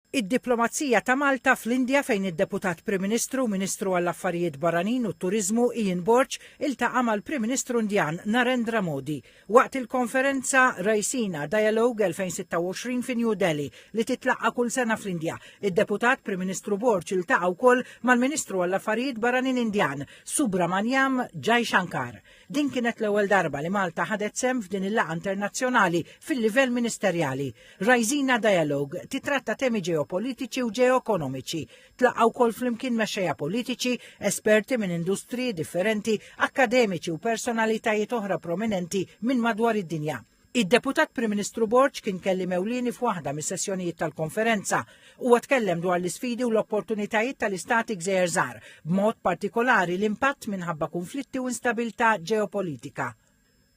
Id-diplomazija ta' Malta fl-Indja fejn id-Deputat Prim Ministru u Ministru għall-Affarijiet Barranin u t-Turiżmu Ian Borg iltaqa' mal-Prim Ministru Indjan Narendra Modi waqt il-konferenza Raisina Dialogue 2026 fi New Delhi li titlaqqa' kull sena fl-Indja. Id-Deputat Prim Ministru Borg iltaqa' wkoll mal-Ministru għall-Affarijiet Barranin Indjan Subramaniam Jaishankar. Din kienet l-ewwel darba li Malta ħadet sehem f'din il-laqgħa internazzjonali fil-livell ministerjali. Raisina Dialogue titratta temi ġeopolitiċi u ġeoekonomiċi. Tlaqgħu wkoll flimkien mexxejja politiċi, esperti minn industriji differenti, akkademiċi u personalitajiet oħra prominenti minn madwar id-dinja. Id-Deputat Prim Ministru Borg kien kelliem ewlieni f'waħda mis-sessjonijiet tal-konferenza. Huwa tkellem dwar l-isfidi u l-opportunitajiet tal-istati gżejjer żgħar, b'mod partikolari l-impatt minħabba kunflitti u instabilità ġeopolitika.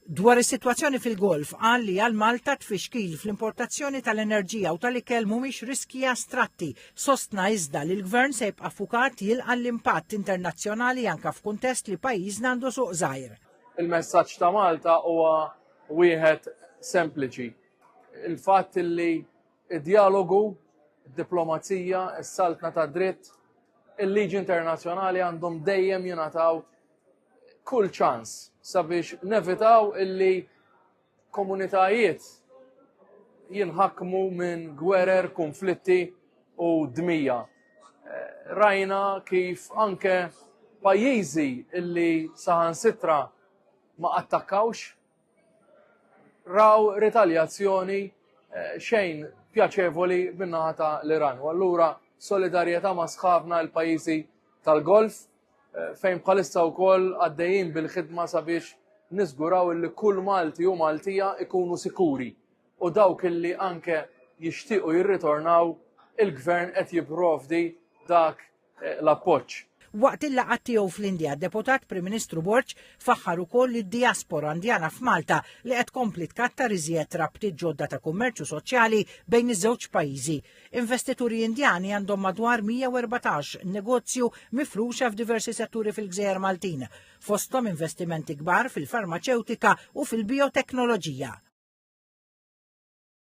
Dwar is-sitwazzjoni fil-Golf qal li għal Malta tfixkil fl-importazzjoni tal-enerġija u tal-ikel mhumiex riskji astratti, sostna iżda li l-Gvern se jibqa' ffukat jilqa' l-impatt internazzjonali anke f'kuntest li pajjiżna għandu suq żgħir. Il-messaġġ ta' Malta huwa Wieħed sempliċi. Il-fatt li d-djalogu, id-diplomazija, is-saltna ta' dritt, il-liġi internazzjonali għandhom dejjem jingħataw kull ċans sabiex nevitaw illi komunitajiet jinħakmu minn gwerer, konflitti u dmija. Eh, rajna kif anke pajjiżi illi saħan sitra ma attakkawx, raw ritaljazzjoni eh, xejn pjaċevoli minnaħa ta' l-Iran. U allura solidarjetà ma' sħabna l-pajjiżi tal-Golf eh, fejn bħalissa wkoll għaddejjin bil-ħidma sabiex niżguraw li kull Malti u Maltija ikunu sikuri u dawk illi anke jixtiequ jirritornaw il-gvern qed jipprovdi dak l-appoġġ. Waqt il-laqgħat tiegħu fl-Indja, Deputat Prim Ministru Borg faħħar ukoll lid-dijaspora Indjana f'Malta li qed tkompli tkattar iżjed rabtiet ġodda ta' kummerċ u soċjali bejn iż-żewġ pajjiżi. Investituri Indjani għandhom madwar 114 negozju mifruxa f'diversi setturi fil-gżejjer Maltin, fosthom investimenti kbar fil-farmaċewtika u fil-bijoteknoloġija.